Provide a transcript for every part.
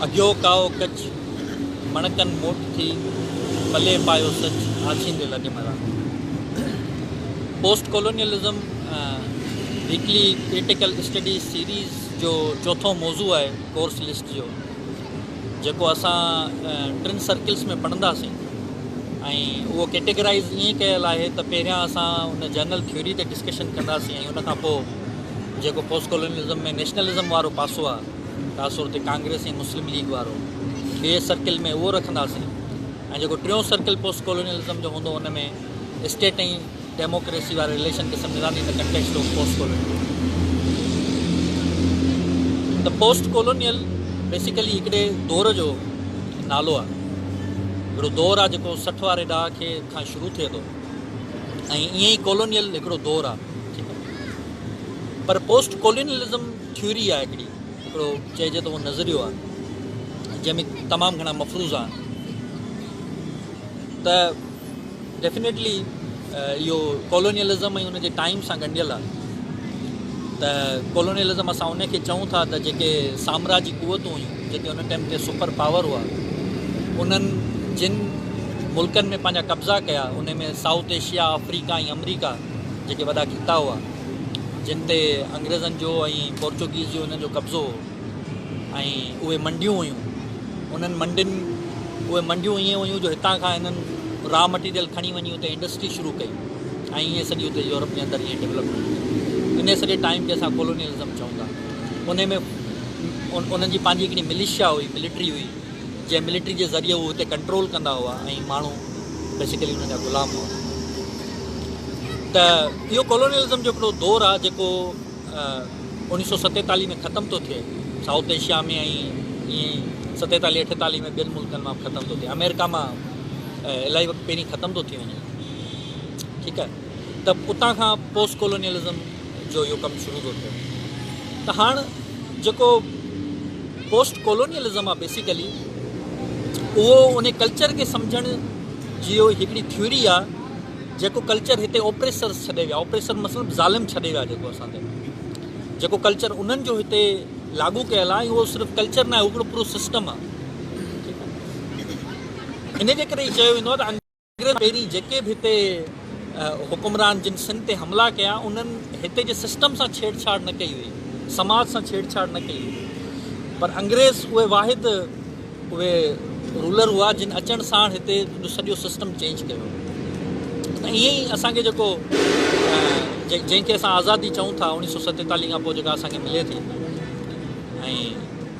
اگهيو ڪائو ڪچ، مڻڪن موٽ ٿي، پلي پايو سچ، آڇيندي لڏي مران. Post colonialism weekly critical study series جو چوٿون موضوع آهي ڪورس لسٽ جو جيڪو اسان ٽن سرڪلس ۾ پڙهنداسين ۽ اهو ڪيٽيگرائيز ائين ڪيل آهي ته پهريان اسان ان جنرل ٿيوري تي ڊسڪشن ڪنداسين ۽ ان کان پوء جيڪو پوسٽ ڪالونيلزم ۾ نيشنلزم وارو پاسو آهي، خاص طور تي ڪانگريس ۽ مسلم ليگ وارو، ٻئي سرڪل ۾ اهو رکنداسين ۽ جيڪو ٽيون سرڪل پوسٽ ڪالونيلزم جو هوندو ان ۾ اسٽيٽ ۽ ڊيموڪريسي واري رليشن کي سمجهنداسين in the context of post colonial. ته پوسٽ ڪالونيل بيسيڪلي هڪڙي دور جو نالو آهي، هڪڙو دور آهي جيڪو سٺ واري ڏهاڪي کان شروع ٿئي ٿو. ۽ ائين ئي ڪالونيل هڪڙو دور آ ٺيڪ آ پر پوسٽ ڪالونيلزم ٿيوري آ هڪڙي هڪڙو چئجي ته اهو نظريو آ جنهن ۾ تمام گهڻا مفروضا آهن ته ڊيفنيٽلي اهو ڪالونيلزم ۽ ان جي ٽائيم سان ڳنڍيل آ ته ڪالونيلزم اسان ان کي چئون ٿا ته جيڪي سامراجي قوتون هيون جيڪي ان ٽائيم تي سپر پاور هئا انهن جن ملڪن ۾ پنهنجا قبضا ڪيا انهن ۾ سائوٿ ايشيا آفريڪا ۽ امريڪا جيڪي وڏا خطا هئا جن تي انگريزن جو ۽ پورچوگيز جو انهن جو قبضو هو ۽ اهي منڊيون هيون انهن منڊين اهي منڊيون ائين هيون جو هتان کان انهن را مٽيريل کڻي وڃي اتي انڊسٽري شروع ڪئي ۽ ائين سڄي اتي يورپ جي اندر ائين ڊيولپمينٽ ٿي ان سڄي ٽائيم کي اسان ڪولونيلزم چئون ٿا ان ۾ انهن جي پنهنجي هڪڙي مليشيا هئي، ملٽري هئي، جنهن ملٽري جي ذريعي هو هتي ڪنٽرول ڪندا هئا ۽ ماڻهو بيسيڪلي انهن جا غلام هئا. ته اهو ڪالونيلزم جو هڪڙو دور آهي جيڪو اوڻيهه سؤ ستيتاليهه ۾ ختم ٿو ٿئي سائوٿ ايشيا ۾ ۽ ائين ئي ستيتاليهه اٺيتاليهه ۾ ٻين ملڪن مان به ختم ٿو ٿئي آمريڪا مان الائي وقت پهرين ختم ٿو ٿي وڃي ٺيڪ آهي ته اتان کان پوسٽ ڪالونيلزم جو اهو ڪم شروع ٿو ٿئي ته هاڻ جيڪو پوسٽ ڪالونيلزم آهي بيسيڪلي اهو ان ڪلچر کي سمجھڻ جي هڪڙي ٿيوري آهي جيڪو ڪلچر هتي اوپريسرس ڇڏي ويا اوپريسر مطلب ظالم ڇڏي ويا جيڪو اسان تي جيڪو ڪلچر انهن جو هتي لاڳو ڪيل آهي اهو صرف ڪلچر نه آهي اهو هڪڙو پورو سسٽم آهي ان جي ڪري چيو ويندو آهي ته انگريز پهرين جيڪي به هتي حڪمران جن سنڌ تي حملا ڪيا انهن هتي جي سسٽم سان ڇيڙ ڇاڙ نه ڪئي هئي سماج سان ڇيڙ ڇاڙ نه ڪئي هئي پر انگريز اهي واحد اهي رولر هئا جن اچڻ ساڻ هتي سڄو سسٽم چينج ڪيو ته ائين ئي اسانکي جيڪو جنهن کي اسان آزادي چئون ٿا اوڻيهه سو ستيتاليهه کان پوء جيڪا اسانکي ملي ٿي ۽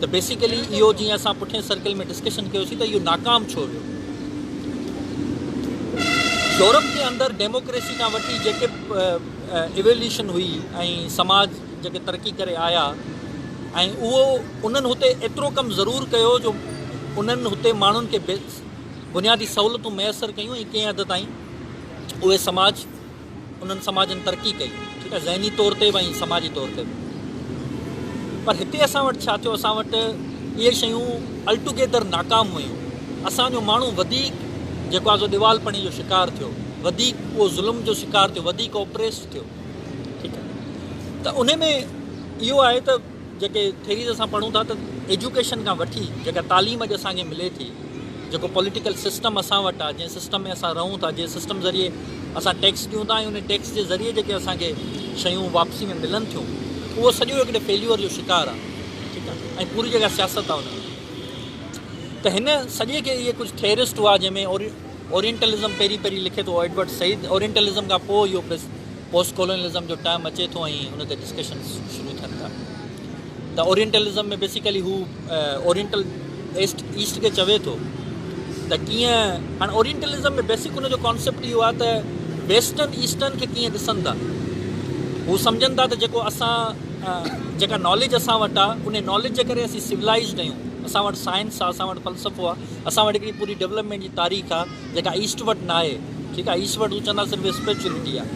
ته بيسيڪلي اهو جيئن اسان پٺئين سرڪل ۾ ڊسڪشن ڪيوسين ته اهو ناڪام ڇو ويو. يورپ جي اندر ڊيموڪريسي کان وٺي جيڪي ايويوليوشن هئي ۽ سماج جيڪي ترقي ڪري آيا ۽ اهو انهن هتي ايترو ڪم ضرور ڪيو جو انهن هتي ماڻهن کي بنيادي سهولتون ميسر ڪيون ۽ ڪنهن حد تائين اهي سماج انهن سماجن ترقي ڪئي ٺيڪ آهي ذهني طور تي به ۽ سماجي طور تي به پر هتي اسان وٽ ڇا ٿيو اسان وٽ اهي شيون الٽوگيدر ناڪام ويون اسان جو ماڻهو وڌيڪ جيڪو آزو ڏيوالپڻي جو شڪار ٿيو وڌيڪ اهو ظلم جو شڪار ٿيو وڌيڪ اوپريس ٿيو ٺيڪ آهي ته ان ۾ اهو آهي ته جيڪي ٿيريز اسان پڙهون ٿا ته ايجوڪيشن کان وٺي جيڪا تعليم اڄ اسان کي ملي ٿي جيڪو پوليٽيڪل سسٽم اسان وٽ آهي جنهن سسٽم ۾ اسان رهون ٿا جنهن سسٽم ذريعي اسان ٽيڪس ڏيون ٿا ۽ ان ٽيڪس جي ذريعي جيڪي اسان کي شيون واپسي ۾ ملن ٿيون اهو سڄو هڪڙي فيليور جو شڪار آهي ٺيڪ آهي ۽ پوري جيڪا سياست آهي ان ۾ ته هن سڄي کي اهي ڪجهه ٿيرسٽ هئا جنهن ۾ اورينٽلزم پهرين پهرين لکي ٿو ايڊورڊ سعيد اورينٽلزم کان پوء اهو پوسٽ ڪالونيلزم جو ٽرم اچي ٿو ۽ ان تي ڊسڪشنز شروع ٿين ٿا ته اورينٽلزم ۾ بيسيڪلي هو اورينٽل ايسٽ ايسٽ کي چوي ٿو ته ڪيئن هاڻي اورينٽلزم ۾ بيسڪ ان جو ڪانسيپٽ اهو آهي ته ويسٽرن ايسٽرن کي ڪيئن ڏسن ٿا هو سمجھن ٿا ته جيڪو اسان جيڪا ناليج اسان وٽ آ ان ناليج جي ڪري اسين سولائزڊ آهيون اسان وٽ سائنس آ اسان وٽ فلسفو آ اسان وٽ هڪڙي پوري ڊيولپمينٽ جي تاريخ آ جيڪا ايسٽ وٽ ناهي، ٺيڪ آهي، ايسٽ وٽ هو چوندا صرف اسپريچوئلٽي آهي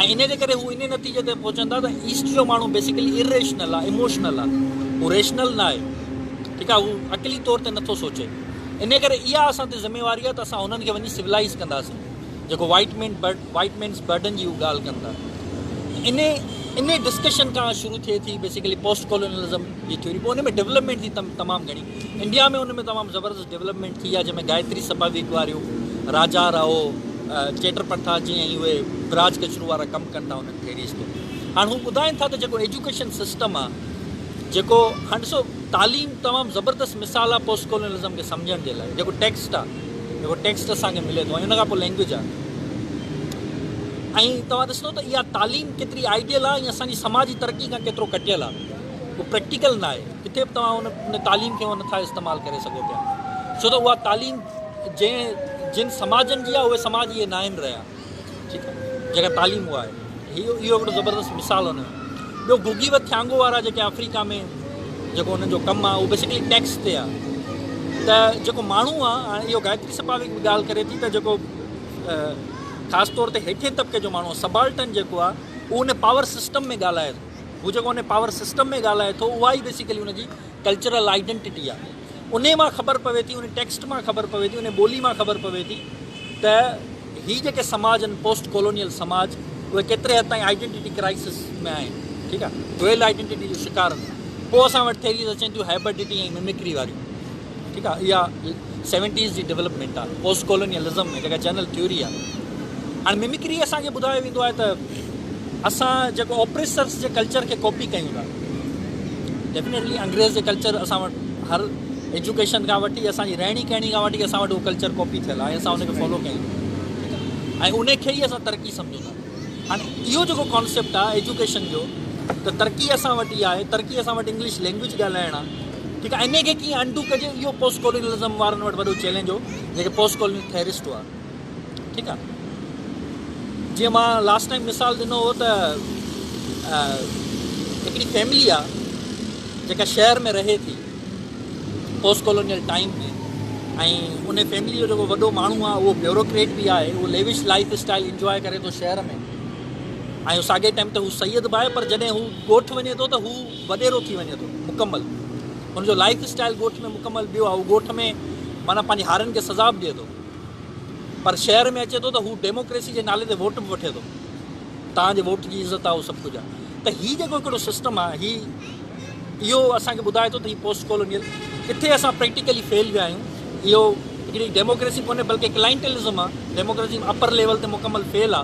۽ انهي جي ڪري هو انهي نتيجي تي پهچندا ته ايسٽ جو ماڻهو بيسيڪلي اريشنل آهي، اموشنل آهي، هو ريشنل ناهي، ٺيڪ آهي، هو عقلي طور تي نٿو سوچي، انهي ڪري اها اسان تي ذميواري آهي ته اسان هنن کي وڃي سولائيز ڪنداسين، جيڪو white man burden, White Man's Burden، جي هو ڳالهه ڪن ٿا، انهي انهي ڊسڪشن کان شروع ٿئي ٿي بيسيڪلي پوسٽ ڪالونيلزم جي ٿيوري، پوء انهي ۾ ڊولپمينٽ جي تمام گهڻي. انڊيا ۾ ان ۾ تمام زبردست ڊيولپمينٽ ٿي آ جنهن ۾ گائتري سپا ويڪ واريون راجا راهو چيٽر پنٿا جي ۽ اهي براج ڪچرو وارا ڪم ڪن ٿا انهن کي ريستو هاڻ هو ٻڌائين ٿا ته جيڪو ايجوڪيشن سسٽم آ جيڪو هاڻ ڏسو تعليم تمام زبردست مثال آ پوسٽ ڪولونلزم کي سمجهڻ جي لاء جيڪو ٽيڪسٽ آ جيڪو ٽيڪسٽ اسان کي ملي ٿو ۽ ان کان پوء لينگويج آ ۽ توهان ڏسندو ته اها تعليم ڪيتري آئيڊيل آ ۽ اسان جي سماجي ترقي کان ڪيترو ڪٽيل آ. هو پريڪٽيڪل ناهي، ڪٿي به توهان ان تعليم کي نٿا استعمال ڪري سگهو پيا، ڇو ته اها تعليم جنهن جن سماجن جي آهي اهي سماج اهي ناهن رهيا، ٺيڪ آهي، جيڪا تعليم اها آهي، هي اهو هڪڙو زبردست مثال هن جو، ٻيو گوگي و ٿيانگو وارا جيڪي آفريڪا ۾ جيڪو انهن جو ڪم آهي اهو بيسڪلي ٽيڪس تي آهي ته جيڪو ماڻهو آهي، هاڻي اهو گائتري سپاويڪ به ڳالهه ڪري ٿي ته جيڪو خاص طور تي هيٺين طبقي جو ماڻهو آهي، سبالٽن جيڪو آهي اهو ان پاور سسٽم ۾ ڳالهائي ٿو. هو جيڪو ان پاور سسٽم ۾ ڳالهائي ٿو اها ئي بيسيڪلي ان جي ڪلچرل آئيڊنٽٽي آهي انهي مان خبر پوي ٿي انهي ٽيڪسٽ مان خبر پوي ٿي انهي ٻولي مان خبر پوي ٿي ته هي جيڪي سماج آهن پوسٽ ڪالونيل سماج اهي ڪيتري حد تائين آئيڊنٽٽي ڪرائسس ۾ آهن ٺيڪ آهي ڊوئل آئيڊنٽٽي جو شڪار آهن پوء اسان وٽ ٿيريز اچن ٿيون هائبرڊٽي ۽ ممڪري واريون ٺيڪ آ اها سيونٽيز جي ڊيولپمينٽ آ پوسٽ ڪالونيلزم ۾ جيڪا جنرل ٿيوري آ هاڻي ممڪري اسان کي ٻڌايو ويندو آهي ته اسان جيڪو آپريسرس جي ڪلچر کي ڪاپي ڪيون ٿا ڊيفنيٽلي انگريز جي ڪلچر اسان وٽ هر ايجوڪيشن کان وٺي اسان جي رهڻي ڪهڻي کان وٺي اسان وٽ اهو ڪلچر ڪاپي ٿيل آهي اسان ان کي فالو ڪيون ٿا ٺيڪ آ ۽ ان کي ئي اسان ترقي سمجهون ٿا هاڻي اهو جيڪو ڪانسيپٽ آ ايجوڪيشن جو ته ترقي اسان وٽ ئي آهي ترقي اسان وٽ انگلش لينگويج ڳالهائڻ آ ٺيڪ آهي انهيء کي ڪيئن انڊو ڪجي اهو پوسٽ ڪولونيلزم وارن وٽ وڏو چئلينج هو جيڪي پوسٽ ڪولونيل ٿيئرسٽ هئا ٺيڪ آهي جيئن مان لاسٽ ٽائيم مثال ڏنو هو ته هڪڙي فيملي آ جيڪا شهر ۾ رهي ٿي پوسٽ ڪولونيل ٽائيم ۾ ۽ ان فيملي جو جيڪو وڏو ماڻهو آ اهو بيوروڪريٽ به آهي اهو ليوش لائف اسٽائل انجوائي ڪري ٿو شهر ۾ ۽ ساڳئي ٽائيم تي هو سيد به آهي پر جڏهن هو ڳوٺ وڃي ٿو ته هو وڏيرو ٿي وڃي ٿو مڪمل ان جو لائيف اسٽائيل ڳوٺ ۾ مڪمل ٻيو آ هو ڳوٺ ۾ معنيٰ پنهنجي هارين کي سزا به ڏئي ٿو پر شهر ۾ اچي ٿو ته هو ڊيموڪريسي جي نالي تي ووٽ به وٺي ٿو توهان جي ووٽ جي عزت آ اهو سڀ ڪجهه آ ته هي جيڪو هڪڙو سسٽم آ هي اهو اسان کي ٻڌائي ٿو ته هي پوسٽ ڪالونيل ڪٿي اسان پريڪٽيڪلي فيل ويا آهيون اهو هڪڙي ڊيموڪريسي ڪونهي بلڪه ڪلائنٽلزم آ ڊيموڪريسي اپر ليول تي مڪمل فيل آ.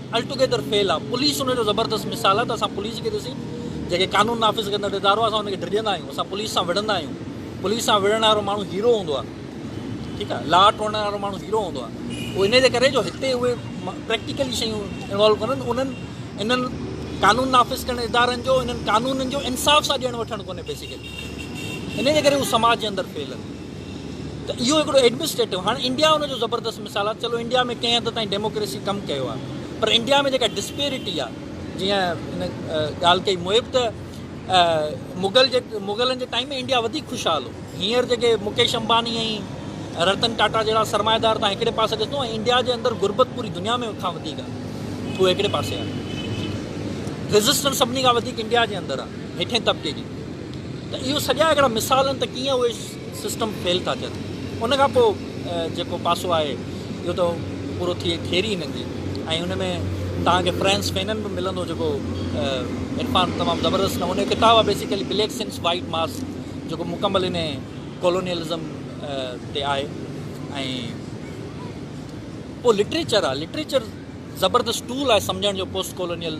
الٽوگيدر فيل آ پوليس ان جو زبردست مثال آ ته اسان پوليس کي ڏسي جيڪي قانون نافذ ڪندڙ ادارو آ اسان ان کي ڊڄندا آهيون اسان پوليس سان وڙهندا آهيون پوليس سان وڙهڻ وارو ماڻهو هيرو هوندو آ ٺيڪ آ لا ٽوڙڻ وارو ماڻهو هيرو هوندو آ هو ان جي ڪري جو هتي اهي پريڪٽيڪلي شيون انوالو ڪونن انهن انهن قانون نافذ ڪرڻ ادارن جو انهن قانونن جو انصاف سان ڏيڻ وٺڻ ڪونهي بيسيڪلي ان جي ڪري هو سماج جي اندر فيل آهن ته اهو هڪڙو ايڊمنسٽريٽو هاڻ انڊيا ان جو زبردست مثال آ چلو انڊيا ۾ ڪنهن حد تائين ڊيموڪريسي ڪم ڪيو آ پر انڊيا ۾ جيڪا ڊسپيرٽي آ جيئن هن ڳالهه ڪئي محب ته مغل جي مغلن جي ٽائيم ۾ انڊيا وڌيڪ خوشحال هو هينئر جيڪي مڪيش امباني ۽ رتن ٽاٽا جهڙا سرمائيدار تان هڪڙي پاسي ڏسندو ۽ انڊيا جي اندر غربت پوري دنيا ۾ کان وڌيڪ آ اهو هڪڙي پاسي آ ريزسٽنس سڀني کان وڌيڪ انڊيا جي اندر آ هيٺين طبقي جي ته اهو سڄا هڪڙا مثال آهن ته ڪيئن اهي سسٽم فيل ٿا ٿين ان کان پوء جيڪو پاسو آهي اهو ته پورو ٿئي ٿيئري هنن جي ۽ ان ۾ توهان کي فرينس فينن به ملندو جيڪو عرفان تمام زبردست نموني جو ڪتاب آهي بيسيڪلي بليڪ سنس وائٽ ماس جيڪو مڪمل ان ڪالونيلزم تي آهي ۽ پوء لٽريچر آهي لٽريچر زبردست ٽول آهي سمجهڻ جو پوسٽ ڪالونيل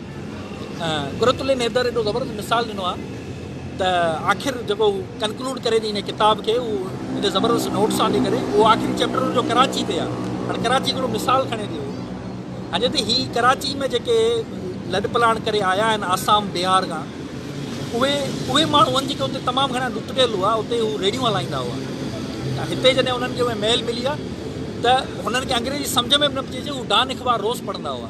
قرة العين حيدر ايڏو زبردست مثال ڏنو آ ته آخر جيڪو هو ڪنڪلوڊ ڪري ٿي هن ڪتاب کي هو ايڏي زبردست نوٽ سان ڏي ڪري اهو آخري چيپٽر هن جو ڪراچي تي آ هاڻي ڪراچي هڪڙو مثال کڻي ٿي هو هنجي تي هي ڪراچي ۾ جيڪي لڏ پلاڻ ڪري آيا آهن آسام بهار کان اهي اهي ماڻهو هن جيڪي اتي تمام گهڻا ڏتڙيل هئا اتي هو ريڊيون هلائيندا هئا ته هتي جڏهن هنن کي اهي مهل ملي آ ته هنن کي انگريزي سمجهه ۾ به نه پئي اچي هو ڊان اخبار روز پڙهندا هئا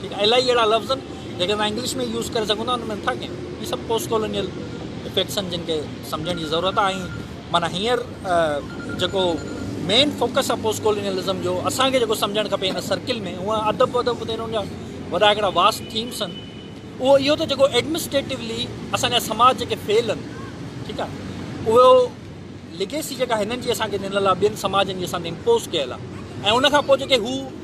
ٺيڪ آهي الائي اهڙا لفظ جيڪي اسان انگلش ۾ يوز ڪري سگهون ٿا ان ۾ نٿا ڪيون هي سڀ پوسٽ ڪالونيل افيڪٽس آهن جن کي سمجهڻ جي ضرورت آهي ۽ معنيٰ هينئر جيڪو مين فوڪس آهي پوسٽ ڪالونيلزم جو اسان کي جيڪو سمجهڻ کپي هن سرڪل ۾ هو ادب ودب تي انهن جا وڏا هڪڙا واس ٿيمس آهن اهو اهو ته جيڪو ايڊمنسٽريٽولی اسان جا سماج جيڪي فيل آهن ٺيڪ آهي اهو ليگيسي جيڪا هنن جي اسان کي ڏنل آهي ٻين سماجن جي اسان تي امپوز ڪيل آهي ۽ ان کان پوء جيڪي هو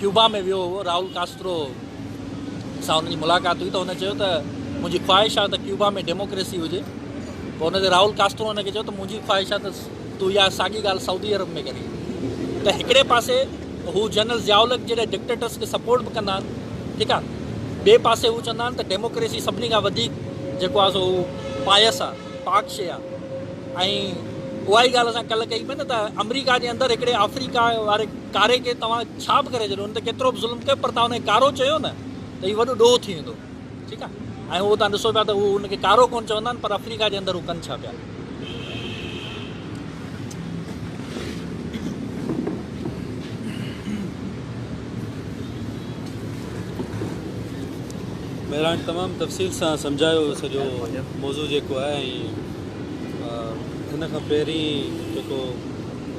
ڪيوبا ۾ ويو هئو، راؤل ڪاسترو سان هن جي ملاقات هئي ته هن چيو ته منهنجي خواهش آهي ته ڪيوبا ۾ ڊيموڪريسي هجي پوء ان تي راؤل ڪاسترو هن کي چيو ته منهنجي خواهش آهي ته تون اها ساڳي ڳالهه سعودي عرب ۾ ڪرين ته هڪڙي پاسي هو جنرل ضياء الحق جهڙي ڊڪٽيٽرس کي سپورٽ به ڪندا آهن ٺيڪ آهي ٻئي پاسي هو چوندا آهن ته ڊيموڪريسي سڀني کان وڌيڪ جيڪو آهي سو پايس آهي پاڪ شي آهي ۽ اها ئي ڳالهه اسان ڪلهه ڪئي پئي نه ته آمريڪا جي اندر هڪڙي آفريڪا واري ڪاري کي توهان ڇا به ڪري ڇڏيو هن تي ڪيترو به ظلم ڪيو پر توهان هن کي ڪارو چيو نه ته هي وڏو ڏوهه ٿي ويندو ٺيڪ آهي ۽ اهو توهان ڏسو پيا ته هو هن کي ڪارو ڪونه چوندا آهن پر افريقا جي اندر هو ڪن ڇا پيا مهراڻ تمام تفصيل سان سمجھايو سڄو موضوع جيڪو آهي ۽ ان کان پهرين جيڪو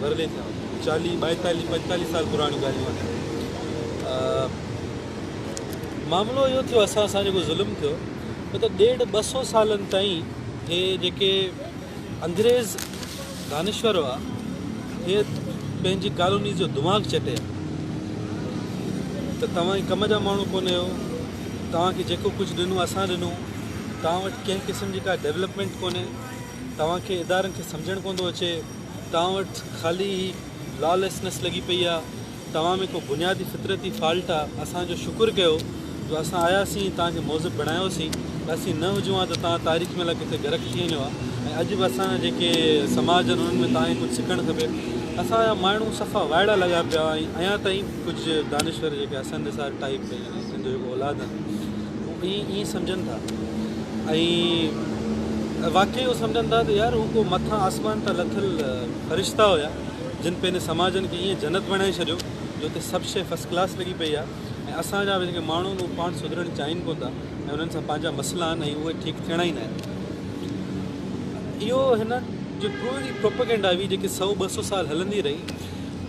ورلي ٿيا چاليهه ٻائيتاليهه پنجتاليهه سال پراڻيون ڳالهيون آهن معاملو اهو ٿيو اسان سان جيڪو ظلم ٿيو هو ته ڏيڍ ٻه سو سالن تائين هي جيڪي انگريز دانشور هئا هي پنهنجي ڪالونيز جو دماغ چٽي ته توهان جي ڪم جا ماڻهو ڪونه آهيو توهانکي جيڪو ڪجهه ڏنو اسان ڏنو توهان وٽ ڪنهن قسم جي ڪا ڊيولپمينٽ ڪونهي توهانکي ادارن کي سمجهڻ ڪونه ٿو اچي توهان وٽ خالي هي Lawlessness لڳي پئي آ توهان ۾ ڪو بنيادي فطرتي فالٽ آ اسان جو شڪر ڪيو جو اسان آياسين توهان کي مهذب بڻايوسين اسين نه هجون ها ته توهان تاريخ ۾ لا ڪٿي غرق ٿي وڃو ها ۽ اڄ به اسان جا جيڪي سماج آهن انهن ۾ توهان کي ڪجهه سکڻ کپي اسان جا ماڻهو صفا وائڙا لڳا پيا ۽ اڃا تائين ڪجهه دانشور جيڪي حسن نثار ٽائيپ ۽ هن جو جيڪو اولاد آهن به ائين سمجهن ٿا ۽ واقعي اهو سمجهن ٿا ته يار هو ڪو مٿان آسمان تان لٿل فرشتا هيا جن پنهنجي سماجن کي ائين جنت بڻائي ڇڏيو جو اتي سڀ شيء فرسٽ ڪلاس لڳي پئي آهي ۽ اسان جا به جيڪي ماڻهو آهن اهي پاڻ سڌرڻ چاهين ڪونه ٿا ۽ انهن سان پنهنجا مسئلا آهن ۽ اهي ٺيڪ ٿيڻا ئي ناهن. اهو هن جي پوري پروپيگنڊا هئي جيڪي سؤ ٻه سؤ سال هلندي رهي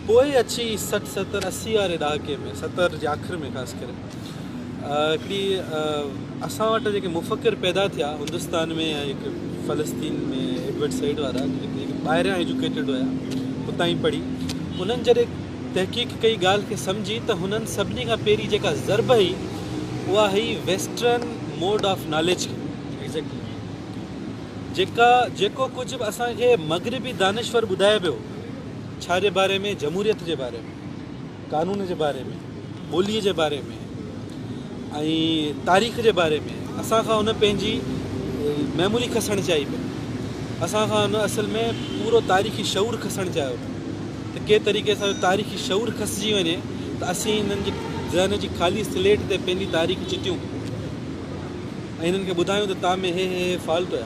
پوء اچي سٺ ستر اسي واري ڏهاڪي ۾ ستر جي آخر ۾ خاص ڪري هڪڙي اسان وٽ جيڪي مفڪر پيدا ٿيا هندستان ۾ ۽ هڪ فلسطين ۾ ايڊورڊ سيڊ وارا جيڪي ٻاهريان ايجوڪيٽيڊ هيا اتان ئي پڙهي انهن جڏهن تحقيق ڪئي ڳالهه کي سمجهي ته هنن سڀني کان پهرين جيڪا ضرب هئي اها هئي ويسٽرن موڊ آف ناليج کي ايگزيڪٽلي جيڪا جيڪو ڪجهه به اسان کي مغربي دانشور ٻڌائي پيو ڇا جي باري ۾ جمهوريت جي باري ۾ قانون جي باري ۾ ٻولي جي باري ۾ ۽ تاريخ جي باري ۾ اسان کان ان پنهنجي ميموري کسڻ چاهي پيو اسان کان ان اصل ۾ پورو تاريخي شعور کسڻ چاهيو پيو ته ڪي طريقي سان تاريخي شعور کسجي وڃي ته اسين انهن جي ذهن جي خالي سليٽ تي پنهنجي تاريخ چتيون ۽ انهن کي ٻڌايون ته تان ۾ هي هي هي فالٽ هيا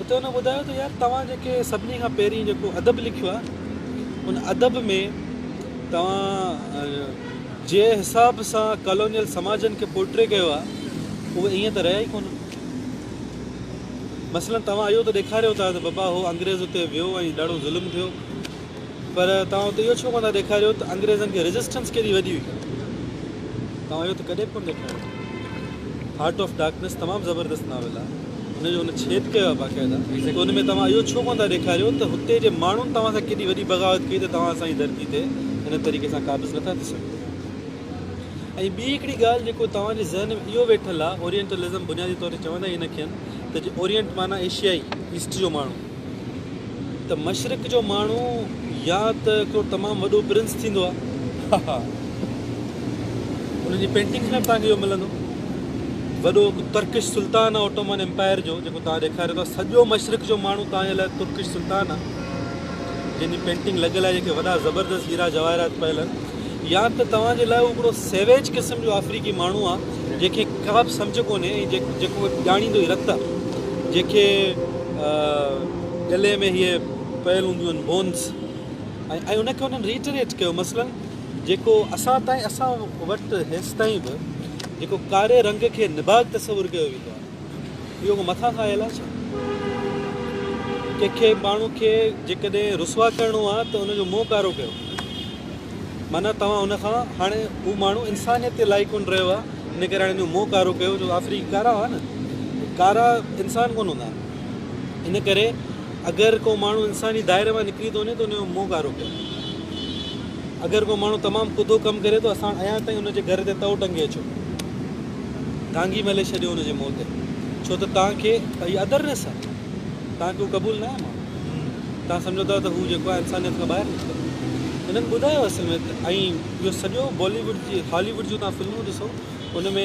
اتي هن ٻڌايو ته يار توهان جيڪي سڀني کان پهرين جيڪو ادب لکيو آهي ان ادب ۾ توهان جنهن حساب سان ڪالونيل سماجن کي پورٽري ڪيو آهي اهي ائين ته رهيا ئي ڪونه مثلا توهان اهو ته ڏيکاريو ٿا ته بابا هو انگريز اتي ويو ۽ ڏاڍو ظلم ٿيو پر توهان اتي اهو ڇو ڪونه ٿا ڏيکاريو ته انگريزن کي ريزسٽنس ڪيڏي وڏي هئي؟ توهان اهو ته ڪڏهن به ڪونه ڏيکاريو. هارٽ آف ڊارڪنيس تمام زبردست ناول آهي. ان جو هن ڇيد ڪيو آهي باقاعده ته ان ۾ توهان اهو ڇو ڪونه ٿا ڏيکاريو ته هتي جي ماڻهن توهان سان ڪيڏي وڏي بغاوت ڪئي ته توهان اسان جي ڌرتي تي هن طريقي سان قابض نه ٿا ٿي سگهو. ۽ ٻي هڪڙي ڳالهه جيڪو توهان جي ذهن ۾ اهو ويٺل آهي اورينٽلزم بنيادي طور تي چوندا ئي ان کي آهن ته جي اورينٽ معنيٰ ايشيائي، ايسٽ جو ماڻهو. ته مشرق جو ماڻهو يا ته ڪو تمام وڏو پرنس ٿيندو آهي ها ها انهن جي پينٽنگس ۾ به توهان کي اهو ملندو وڏو هڪ ترڪش سلطان آهي اوٽومن امپائر جو جيڪو توهان ڏيکاريو ٿا سڄو مشرق جو ماڻهو توهان جي لاء ترڪش سلطان آهي جن جي پينٽنگ لڳل آهي جيڪي وڏا زبردست هيرا جواهرات پيل آهن يا ته توهان جي لاء هڪڙو سيويج قسم جو آفريڪي ماڻهو آهي جنهن کي ڪا به سمجهه ڪونهي ۽ جيڪو ڄاڻيندو ئي رت جنهن کي گلي ۾ هيء پيل هونديون آهن Bones ۽ ان کي هنن Reiterate ڪيو مثلاً جيڪو اسان تائين اسان وٽ هيستائين به جيڪو ڪاري رنگ کي نڀاڳ تصور ڪيو ويندو آهي اهو ڪو مٿان کان آيل آهي ڇا؟ ڪنهن کي ماڻهو کي جيڪڏهن رسوا ڪرڻو آهي ته ان جو منهن ڪارو ڪيو. معنيٰ توهان هن کان هاڻي هو ماڻهو انسانيت جي لائق ڪونه رهيو آهي ان ڪري هاڻي هن جو منهن ڪارو ڪيو جو آفريڪي ڪارا هئا نه ڪارا انسان ڪونه هوندا آهن ان ڪري اگر ڪو ماڻهو انساني دائري مان نڪري ٿو وڃي ته ان جو منهن ڪارو ڪيو اگر ڪو ماڻهو تمام ڪڌو ڪم ڪري ٿو اسان اڃا تائين ان جي گهر تي تئو ٽنگي اچو ڌانگي ملي ڇڏيو ان جي منهن تي ڇو ته تان کي ادر نه سان تان ڪو قبول ناهي ماڻهو تان سمجهو ٿا ته هو جيڪو آهي انسانيت کان ٻاهر نڪتل هنن ٻڌايو اصل ۾ ته ۽ اهو سڄو بالي ووڊ جي هالي ووڊ جون تان فلمون ڏسو ان ۾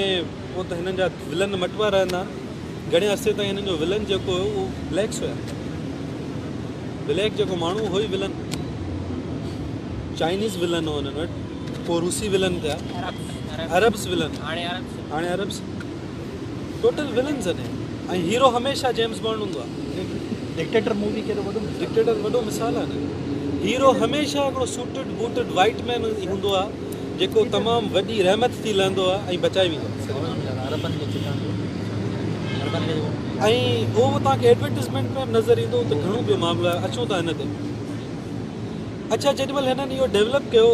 پو ته هنن جا ولن مٽوا رهندا آهن گهڻي عرصي تائين هنن جو ولن جيڪو هو اهو بليڪس هيا بليڪ جيڪو ماڻهو هو ئي ولن چائنيز ولن هو هنن وٽ پو روسي ولن ٿيا عربس ولن هاڻي عربس ٽوٽل ولن زني ۽ هيرو هميشه جيمس بانڊ هوندو آهي ڊڪٽيٽر مووي ڪيڏو وڏو ڊڪٽيٽر وڏو مثال آهي نه هيرو هميشه هڪڙو سوٽڊ بوٽڊ وائيٽ مين ئي هوندو آهي جيڪو تمام وڏي رحمت ٿي لهندو آهي ۽ بچائي ويندو آهي ۽ اهو توهان کي ايڊورٽيزمينٽ ۾ به نظر ايندو ته گهڻو ٻيو معاملو آهي اچون ٿا هن تي اڇا جيڏي مھل ھنن اھو ڊيولپ ڪيو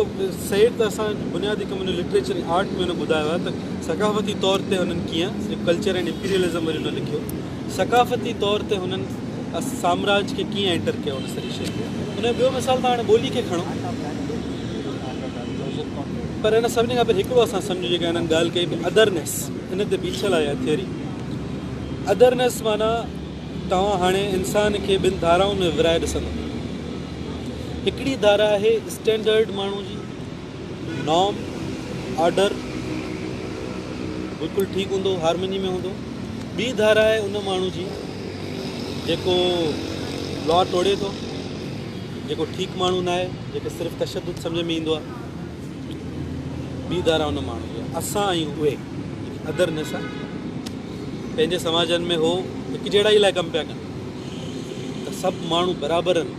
سيد ته اسان بنيادي ڪم ھن لٽريچر ۽ آرٽ ۾ ھن ٻڌايو آھي ته ثقافتي طور تي ھنن ڪيئن صرف ڪلچر اينڊ امپيريلزم وري ھن لکيو ثقافتي طور تي ھنن سامراج کي ڪيئن اينٽر ڪيو ھن سڄي شيء کي انھي ٻيو مثال تھان ھاڻي ٻولي کي کڻو پر ھن سڀني کان پھرين ھڪڙو اسان سمجھو جيڪا ھنن ڳالھ ڪئي ادرنيس ان تي بيٺل آھي اھا ٿيوري ادرنيس معنيٰ توهان هاڻي انسان کي ٻن ڌارائن ۾ ورهائي ڏسندا. هڪڙي ڌارا آهي اسٽينڊرڊ ماڻهو جي، نارم، آرڊر، بلڪل ٺيڪ هوندو، هارمني ۾ هوندو. ٻي ڌارا آهي ان ماڻهو جي جيڪو لا ٽوڙي ٿو، جيڪو ٺيڪ ماڻهو ناهي، جيڪو صرف تشدد سمجهه ۾ ايندو آهي. ٻي ڌارا ان ماڻهو جي آهي. اسان آهيون اهي جيڪي ادر نيسان. پنهنجي سماجن ۾ هو هڪجهڙائي لاء ڪم پيا ڪن ته سڀ ماڻهو برابر آهن،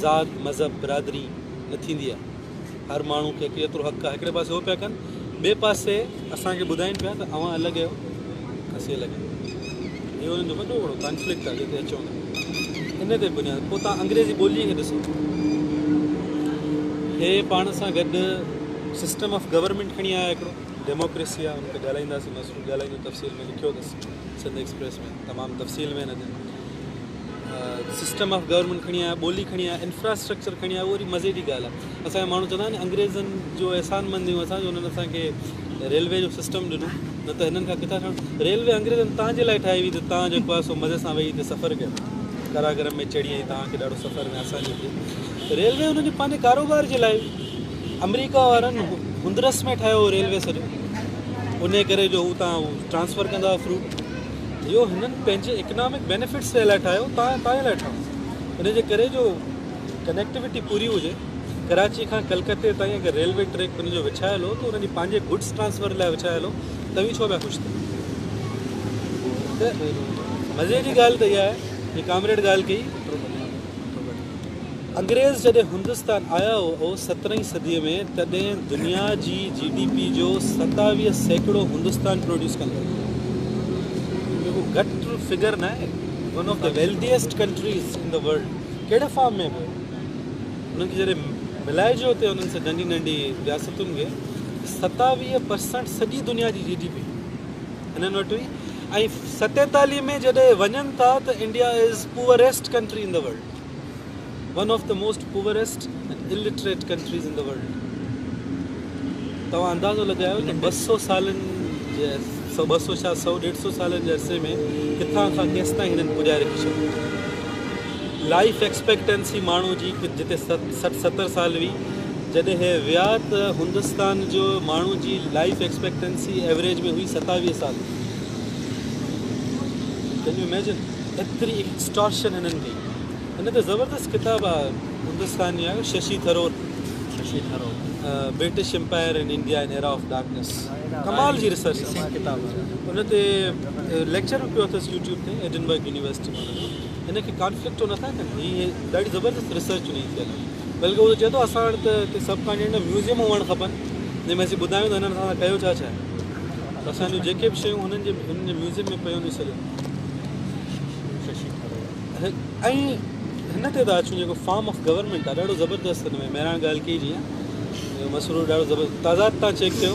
ذات، مذهب، برادري نه ٿيندي آهي، هر ماڻهو کي هڪ ايترو حق آهي، هڪڙي پاسي هو پيا ڪن، ٻئي پاسي اسان کي ٻڌائين پيا ته اوهان الڳ آهيو، اسين الڳ آهيون. هي انهن جو وڏو وڙو ڪانفلڪٽ آهي جنهن تي اچون ٿا. ان تي بنياد پوء توهان انگريزي ٻوليء کي ڏسو. هي پاڻ سان گڏ سسٽم آف گورنمينٽ کڻي آيا هڪڙو. ڊيموڪريسي آ ان تي ڳالهائينداسين مسرور ڳالهائيندو تفصيل ۾ لکيو اٿس سنڌ ايڪسپريس ۾ تمام تفصيل ۾ هن جي سسٽم آف گورنمنٽ کڻي آيا ٻولي کڻي آيا انفراسٽرڪچر کڻي آيا اهو مزي جي ڳالهه آهي اسان ماڻهو چوندا آهن انگريزن جو احسان مند آهيون اسان جو انهن اسان کي ريلوي جو سسٽم ڏنو نه ته هنن کان ڪٿا ٺهڻ ريلوي انگريزن تان جي لاء ٺاهي هئي ته تان جيڪو آهي سو مزي سان ويهي هتي سفر ڪيو ڪراگرم ۾ چڙهي ۽ تان کي ڏاڍو سفر ۾ آساني ٿئي ريلوي هنن جي پنهنجي ڪاروبار جي لاء آمريڪا وارن هندرس ۾ ٺاهيو هو ريلوي سڄو انهي ڪري جو هو تان ٽرانسفر ڪندا هو فروٽ اهو هنن پنهنجي اڪنامڪ بينيفٽس جي لاء ٺاهيو تان تان لاء ٺاهيو ان جي ڪري جو ڪنيڪٽيوٽي پوري هجي ڪراچي کان ڪلڪتي تائين اگر ريلوي ٽريڪ ان جو وڇايل هو ته ان جي پنهنجي گڊس ٽرانسفر لاء وڇايل هو توهين ڇو پيا خوش ٿيو ته مزي جي ڳالهه ته اها آهي جي ڪامريڊ ڳالهه ڪئي انگريز جڏهن هندستان آيا هئا سترهين صدي ۾ تڏهن دنيا جي جي ڊي پي جو ستاويهه سيڪڙو هندستان پروڊيوس ڪندو هو ۾ ڪو گهٽ فگر ناهي one of the wealthiest countries in the world ڪهڙي فارم ۾ به انهن کي جڏهن ملائجو اتي انهن سان ننڍي ننڍي رياستن کي ستاويهه پرسنٽ سڄي دنيا جي جي ڊي پي انهن وٽ هئي ۽ ستيتاليهه ۾ جڏهن وڃن ٿا ته India is poorest country in the world one of the most poorest and illiterate countries in the world توهان اندازو لڳايو ته ٻه سو سالن جي سو ٻه سو شايد سو ڏيڍ سو سالن جي عرصي ۾ ڪٿان کان ڪيستائين هنن پڄائي رکي ڇڏيو لائيف ايڪسپيڪٽنسي ماڻهو جي جتي سٺ ستر سال هئي جڏهن هي ويا ته هندستان جو ماڻهو جي لائيف ايڪسپيڪٽنسي ايوريج ۾ هئي ستاويهه سال ڪين يو اميجن ايتري ايڪسٽارشن هنن ڪئي هن ته زبردست ڪتاب آ هندستان جي Shashi Tharoor Shashi Tharoor British umpire in India an era of darkness ڪمال جي ريسرچ سنگ ڪتاب ان تي ليڪچر به پيو اٿس يوٽيوب تي ايڊنبرگ يونيورسٽي مان جو ان کي ڪانفلڪٽو نٿا ڪن هي ڏاڍي زبردست ريسرچ ان جي ٿيل آهي بلڪه هو چئي ٿو اسان وٽ ته هتي سب ڪانٽيننٽ ۾ ميوزيم هئڻ کپن جنهن ۾ اسين ٻڌايون ته هنن اسان سان ڪيو ڇا ڇا اسان جون جيڪي به شيون هنن جي هنن جي ميوزيم ۾ پيون ڏسي لڳون ۽ هن تي ته اچون جيڪو فارم آف گورنمنٽ آهي ڏاڍو زبردست هن ۾ مهراڻ ڳالهه ڪئي جيئن مسرور ڏاڍو زبردست تعداد تان چيڪ ڪيو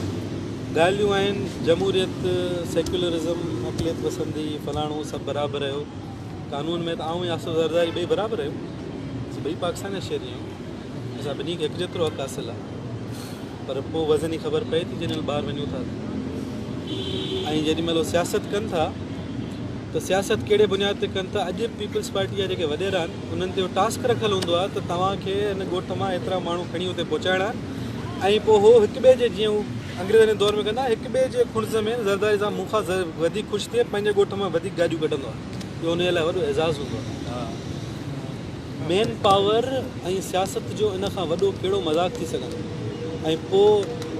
ڳالهيون آهن جمهوريت سيڪولرزم اقليت پسندي فلاڻو سڀ برابر رهيو قانون ۾ ته آئون ياسر زرداري ٻئي برابر رهيو ٻئي پاڪستان جا شهري آهيون اسان ٻنهي کي هڪ جيترو حق حاصل آهي پر پوء وزن جي خبر پئي ٿي جڏهن ٻاهر وڃون ٿا ۽ جيڏي مهل سياست ڪن ٿا ته سياست ڪهڙي بنياد تي ڪن ٿا اڄ پيپلز پارٽي جا جيڪي وڏيرا آهن انهن تي ٽاسڪ رکيل هوندو آهي ته توهان کي هن ڳوٺ مان ايترا ماڻهو کڻي اتي پهچائڻا آهن ۽ پوء هو هڪ ٻئي جي جيئن هو انگريزن جي دور ۾ ڪندا هڪ ٻئي جي خنز ۾ زرداري صاحب مون کان وڌيڪ خوش ٿئي پنهنجي ڳوٺ مان وڌيڪ گاڏيون ڪڍندو آهي اهو ان جي لاء وڏو اعزاز هوندو آهي مين پاور ۽ سياست جو ان کان وڏو ڪهڙو مذاق ٿي سگهندو ۽ پوء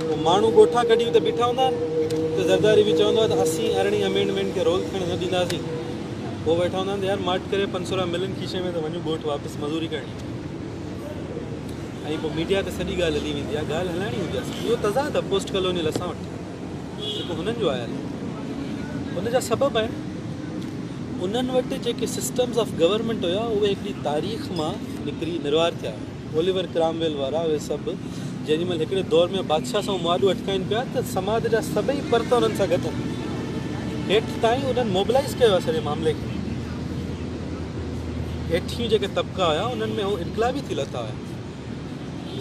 هو ماڻهو ڳوٺا ڪڍي اتي بيٺا هوندا آهن ته زرداري به چوندو آهي ته اسين ارڙهين امينڊمينٽ کي رول ٿيڻ نه ڏينداسين پوء ويٺا هوندا آهن ته يار ماٺ ڪري پنج سو رپيا ملن کيسي ۾ ته وڃون ڳوٺ واپس مزوري ڪرڻي آهي ۽ پوء ميڊيا تي سڄي ڳالهه هلي ويندي آهي ڳالهه هلائڻي هوندي آهي اهو تضاد آهي پوسٽ ڪالونيل اسان وٽ جيڪو هنن جو آيل آهي ان جا سبب آهن انهن وٽ جيڪي سسٽمز آف گورنمنٽ هيا اهي هڪڙي تاريخ مان نڪري نروار ٿيا اوليور ڪرامويل وارا اهي سڀ جنهن مهل هڪڙي دور ۾ بادشاهه سان معاهدو اٽڪائين پيا ته سماج جا سڀئي پرت انهن سان گڏ هيٺ تائين انهن موبلائز ڪيو آهي سڄي معاملي کي هيٺيون جيڪي طبقا هيا انهن ۾ هو انقلابي ٿي لٿا هيا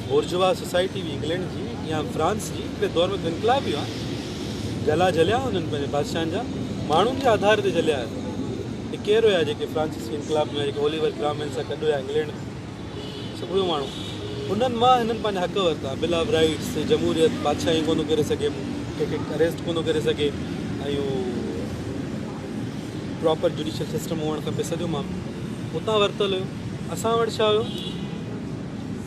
بورجوا سوسائٽي به انگلينڊ جي يا فرانس جي هڪڙي دور ۾ ته انقلاب ئي هئا. جلا جليا انهن پنهنجن بادشاهن جا ماڻهن جي آڌار تي جليا آهن. هي ڪير هيا جيڪي فرانسيسي انقلاب ۾ جيڪي اوليور ڪرامويل سان گڏ هيا انگلينڊ ۾ سڀ اهي ماڻهو انهن مان هنن پنهنجا حق ورتا بل آف رائيٽس جمهوريت بادشاهي ڪونه ڪري سگهي مون کي ڪي اريسٽ ڪونه ڪري سگهي ۽ پراپر جوڊيشل سسٽم هئڻ کپي سڄو معاملو اتان ورتل هيو اسان وٽ ڇا هيو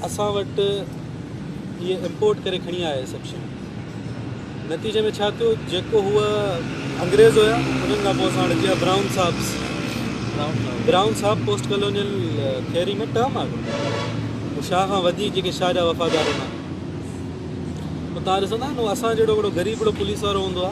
اسان وٽ اهي امپورٽ ڪري کڻي آيا اهي سڀ شيون نتيجي ۾ ڇا ٿيو جيڪو هو انگريز هيا انهن کان پوء اسان وٽ جيئن brown sahib brown sahib post colonial theory ۾ term آ هو شاهه کان وڌيڪ جيڪي شاهه جا وفادار هوندا اتان ڏسندا آهن اسان جهڙو هڪڙو غريب هڪڙو پوليس وارو هوندو آ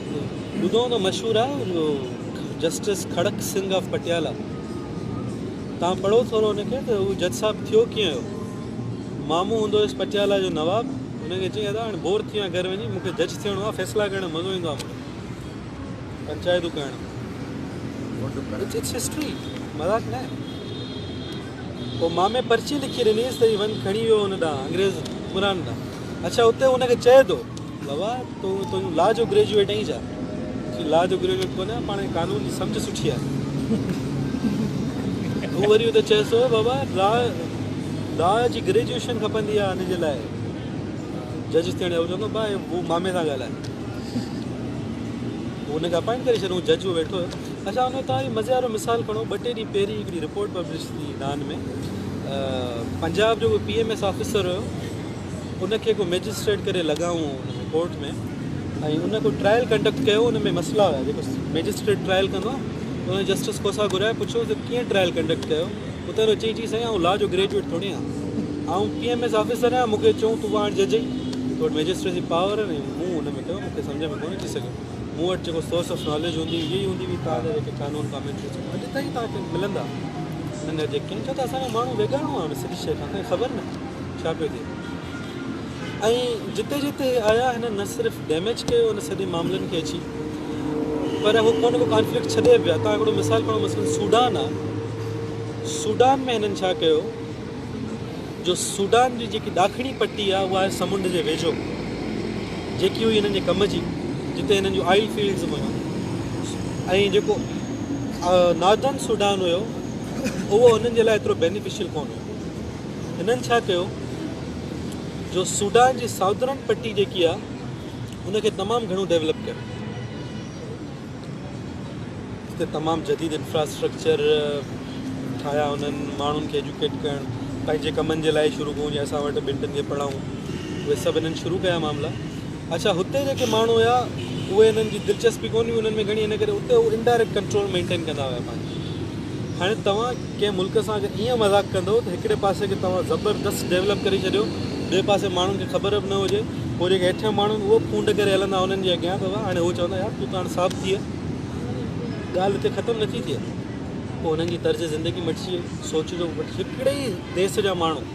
ٻڌو ته مشهور آ جو جسٽس کڙڪ سنگهه آف پٽيالا تان پڙهو ٿورو ان کي ته هو جج صاحب ٿيو ڪيئن هو مامو هوندو هيس پٽيالا جو نواب ان کي چيئي ادا هاڻ بور ٿيان گهر وڃي مون کي جج ٿيڻو آ فيصلا ڪرڻ مزو ايندو آ مون کي پنچائتون ڪرڻ ۾ اٽس هسٽري مذاق نه پوء مامي پرچي لکي ڏنيس ته هي وڃ کڻي ويو ان ڏانهن انگريز حڪمران ڏانهن اڇا اتي هو ان کي چئي ٿو بابا تو تون لا جو گريجوئيٽ آهين ڇا؟ چي لا جو گريجوئيٽ ڪونه آهيان پاڻ قانون جي سمجهه سٺي آهي. هو وري اتي چيس ٿو بابا لا لا جي گريجوئيشن کپندي آهي ان جي لاء جج ٿيڻ هو چوندو با هو مامي سان ڳالهائي هن کي اپائنٽ ڪري ڇڏيو جج هو ويٺو هيو اچھا ان تان مزي وارو مثال کڻو ٻه ٽي ڏينهن پهرين هڪڙي رپورٽ پبلش ٿي نان ۾ پنجاب جو پي ايم ايس آفيسر هيو ان کي ڪو مئجسٽريٽ ڪري لڳائون ان ۾ ڪورٽ ۾ ۽ ان ڪو ٽرائل ڪنڊڪٽ ڪيو ان ۾ مسئلا هيا جيڪو مئجسٽريٽ ٽرائل ڪندو آهي ان ۾ جسٽس کوسا گهرايو پڇيو ته ڪيئن ٽرائل ڪنڊڪٽ ڪيو اتي هن چيئي چي سائين آئون لا جو گريجويٽ ٿوري آهيان آئون پي ايم ايس آفيسر آهيان مون کي چون تون پاڻ جج آهين تو وٽ مئجسٽريسي پاور آهن ۽ مون ان ۾ ڪيو مون کي سمجھ ۾ ڪونه اچي سگھيو مون وٽ جيڪو سورس آف ناليج هوندي هئي اها ئي هوندي هئي تان جيڪي قانون ڪامينٽريز اڄ تائين توهان کي ملندا هن جي ڪن کي ته اسان جو ماڻهو ويڳاڻو آهي ان سڄي شيء کان اسان کي خبر ناهي ڇا پيو ٿئي ۽ جتي جتي هي آيا هنن نه صرف ڊيميج ڪيو ان سڄي معاملن کي اچي پر هو ڪو نه ڪو ڪانفلڪٽ ڇڏي پيا تان هڪڙو مثال کڻو مثلا سوڊان آ سوڊان ۾ هنن ڇا ڪيو جو سوڊان جي جيڪي ڏاکڻي پٽي آ اها آهي سمنڊ جي ويجهو جيڪي هئي هنن جي ڪم جي جتي هنن جون آئل فيلڊز هيون ۽ جيڪو ناردن سوڊان هيو اهو هنن جي لاء ايترو بينيفيشل ڪون هيو هنن ڇا ڪيو جو سوڊان جي ساؤدرن پٽي جيڪي آ ان کي تمام گهڻو ڊيولپ ڪيو جتي تمام جديد انفراسٽرڪچر ٺاهيا انهن ماڻهن کي ايجوڪيٽ ڪرڻ پنهنجي ڪمن جي لاء شروع ڪيون جي اسان وٽ ٻن ٽن کي پڙهائون اهي سڀ انهن شروع ڪيا معاملا اڇا هتي جيڪي ماڻهو هيا اهي انهن جي دلچسپي ڪون هئي انهن ۾ گهڻي ان ڪري اتي هو انڊائريڪٽ ڪنٽرول مينٽين ڪندا هيا پنهنجي هاڻي توهان ڪنهن ملڪ سان اگر ايئن مذاق ڪندو ته هڪڙي پاسي کي توهان زبردست ڊيولپ ڪري ڇڏيو ٻئي پاسي ماڻهن کي خبر به نه هجي پوء جيڪي هيٺيان ماڻهو آهن اهو ڦونڊ ڪري هلندا انهن جي اڳيان ته هاڻي هو چوندا يار تون ته هاڻي صاف ٿيء ڳالهه هتي ختم نٿي ٿئي پوء انهن جي طرز زندگي مٽجي وئي سوچ جو هڪڙي ئي ديس جا ماڻهو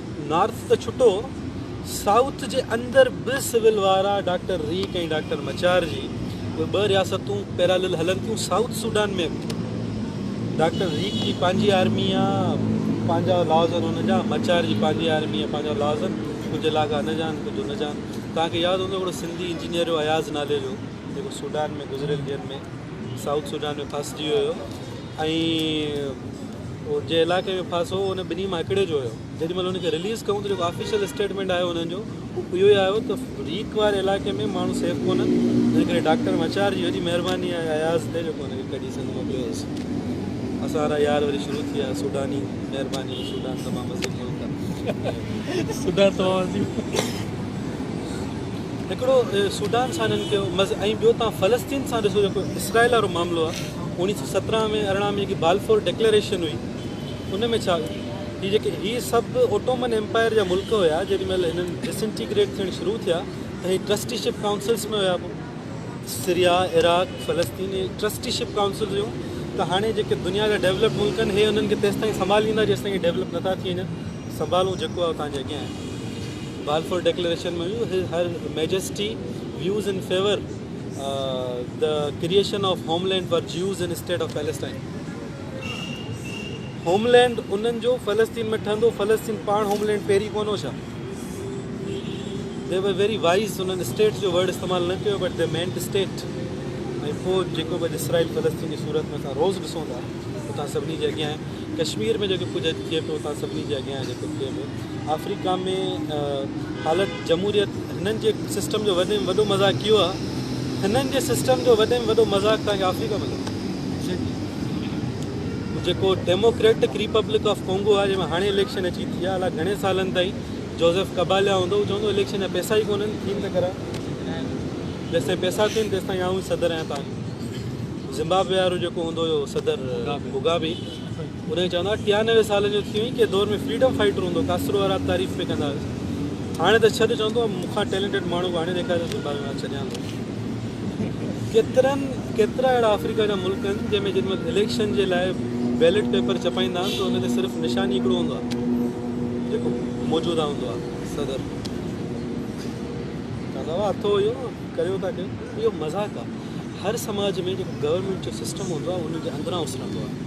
نارٿ ته ڇٽو سائوٿ جي اندر به سول وارا ڊاڪٽر ريڪ ۽ ڊاڪٽر مچار جي اهي ٻه رياستون پيرالل هلن ٿيون سائوٿ سوڊان ۾ به ڊاڪٽر ريڪ جي پنهنجي آرمي آ پنهنجا لاز آهن ان جا مچار جي پنهنجي آرمي آ پنهنجا لاز آهن ڪجهه علاقا ان جا آهن ڪجهه ان جا آهن توهان کي ياد هوندو هڪڙو سنڌي انجنيئر هو اياز نالي جو جيڪو سوڊان ۾ گذريل ڏينهن ۾ سائوٿ سوڊان ۾ ڦاسجي ويو ۽ جنهن علائقي ۾ ڦاس هو ان ٻنهي مان هڪڙي جو هيو جيڏي مهل ان کي رليز ڪيون ته جيڪو آفيشل اسٽيٽمينٽ آيو انهن جو اهو اهو ئي آيو ته ريڪ واري علائقي ۾ ماڻهو سيف ڪونهن تنهن ڪري ڊاڪٽر مچار جي وڏي مهرباني آهي اياز تي جيڪو ان کي ڪڍي سنڌ موڪليو اٿس اسان وارا يار وري شروع ٿي ويا سوڊاني مهرباني سوڊان تمام عظيم ملڪ آهي سوڊان تمام عظيم هڪڙو سوڊان سان هنن ڪيو ۽ ٻيو تان فلسطين سان ڏسو جيڪو اسرائيل وارو معاملو آهي اوڻيهه سؤ سترهن ۾ ارڙهن ۾ جيڪي بالفور ڊڪليئريشن هئي ان ۾ ڇا هي جيڪي هي سڀ اوٽومن ايمپائر جا ملڪ هيا جيڏي مهل هنن ڊسنٽيگريٽ ٿيڻ شروع ٿيا ته هي ٽرسٽي شپ ڪائونسلس ۾ هيا پوء سريا عراق فلسطين هي ٽرسٽي شپ ڪائونسلس هيون ته هاڻي جيڪي دنيا جا ڊيولپڊ ملڪ آهن هي انهن کي تيستائين سنڀاليندا جيستائين هي ڊيولپ نٿا ٿي وڃن سنڀالون جيڪو آهي تان جي اڳيان آهي Balfour declaration ۾ have her majesty views in favour The Creation of Homeland for Jews in State of Palestine homeland انهن جو فلسطين ۾ ٺهندو فلسطين پاڻ هوم لينڊ پهرين ڪون هو ڇا دي ور ويري وائز انهن اسٽيٽ جو ورڊ استعمال نه ڪيو بٽ دي مينٽ اسٽيٽ ۽ پوء جيڪو به اسرائيل فلسطين جي صورت ۾ اسان روز ڏسون ٿا اتان سڀني جي اڳيان آهي ڪشمير ۾ جيڪو ڪجهه ٿئي پيو اتان سڀني جي اڳيان جيڪو ٿئي پيو آفريڪا ۾ حالت جمهوريت هنن جي سسٽم جو وڏي ۾ وڏو مذاق اهو آهي هنن جي سسٽم جو وڏي ۾ وڏو مذاق توهان کي آفريڪا ۾ لڳو جيڪو ڊيموڪريٽڪ ريپبلڪ آف ڪونگو آهي جنهن ۾ هاڻي اليڪشن اچي ٿي آهي الاء گهڻي سالن تائين جوزف ڪباليا هوندو هو چوندو اليڪشن جا پيسا ئي ڪونهن ٿين ته ڪران جيسي پيسا ٿين تيسي تائين آئون صدر آهيان توهان زمبابوي وارو جيڪو هوندو هو صدر بگابي هن کي چوندا هئا، ٽيانوي سالن جو ٿي وئين، ڪنهن دور ۾ فريڊم فائيٽر هوندو هو، ڪاسرو وارا تعريف پئي ڪندا هئس. هاڻي ته ڇڏ چوندو هو، مون کان ٽيلنٽيڊ ماڻهو به آڻي ڏيکار ته زمبابوي مان ڇڏيان ٿو. ڪيترن ڪيترا اهڙا آفريڪا جا ملڪ آهن، جنهن ۾ جيڏي مهل اليڪشن جي لاء بيلٽ پيپر ڇپائيندا آهن ته ان تي صرف نشان ئي هڪڙو هوندو آهي، جيڪو موجوده هوندو آهي، صدر. چوندا هئا، اٿو اهو، ڪريو ٿا ڪيو. اهو مذاق آهي. هر سماج ۾ جيڪو گورنمينٽ جو سسٽم هوندو آهي ان جي اندران اسرندو آهي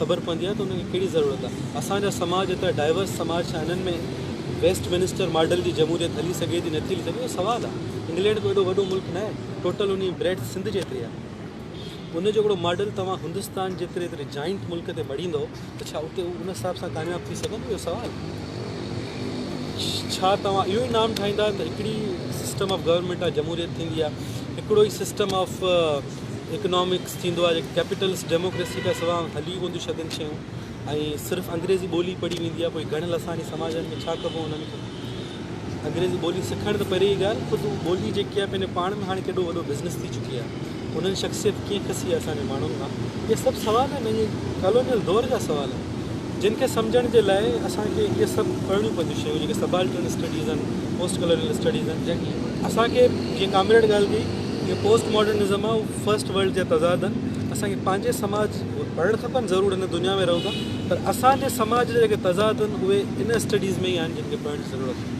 خبر پوندي آهي ته ان کي ڪهڙي ضرورت آهي اسان جا سماج ايترا ڊائيورس سماج ڇا انهن ۾ ويسٽ منسٽر ماڊل جي جمهوريت هلي سگهي ٿي نه ٿي هلي سگهي اهو سوال آهي انگلينڊ ڪو ايڏو وڏو ملڪ ناهي ٽوٽل ان جي بريڊ سنڌ جيتري آهي ان جو هڪڙو ماڊل توهان هندستان جيتري ايتري جائنٽ ملڪ تي مڙهيندو ته ڇا اتي هو ان حساب سان ڪامياب ٿي سگهندو اهو سوال ڇا توهان اهو ئي نام ٺاهيندا ته هڪڙي سسٽم آف گورنمينٽ آف جمهوريت ٿيندي آهي هڪڙو ئي سسٽم آف اڪنامڪس ٿيندو آهي جيڪي ڪيپيٽلس ڊيموڪريسي کان سوا هلي ڪون ٿيون سگهن شيون ۽ صرف انگريزي ٻولي پڙهي ويندي آهي پوء گهڻيل اسانجي سماجن ۾ ڇا ڪبو انهن کي انگريزي ٻولي سکڻ ته پري جي ڳالهه خود ٻولي جيڪي آهي پنهنجو پاڻ ۾ هاڻي ڪيڏو وڏو بزنس ٿي چڪي آهي هنن جي شخصيت ڪيئن کسي آهي اسان جي ماڻهن مان اهي سڀ سوال آهن اهي ڪالونيل دور جا سوال آهن جن کي سمجهڻ جي لاء اسان کي اهي سڀ پڙهڻيون پونديون شيون جيڪي سبالٽرن اسٽڊيز آهن پوسٽ ڪالونيل اسٽڊيز آهن جن اسان کي جيئن ڪامريڊ ڳالهه ڪئي جو پوسٽ ماڊرنزم آهي اهو فرسٽ ورلڊ جا تضاد آهن اسان کي پنهنجي سماج پڙهڻ کپن ضرور هن دنيا ۾ رهون ٿا پر اسان جي سماج جا جيڪي تضاد آهن اهي ان اسٽڊيز ۾ ئي آهن جن کي پڙهڻ جي ضرورت آهي.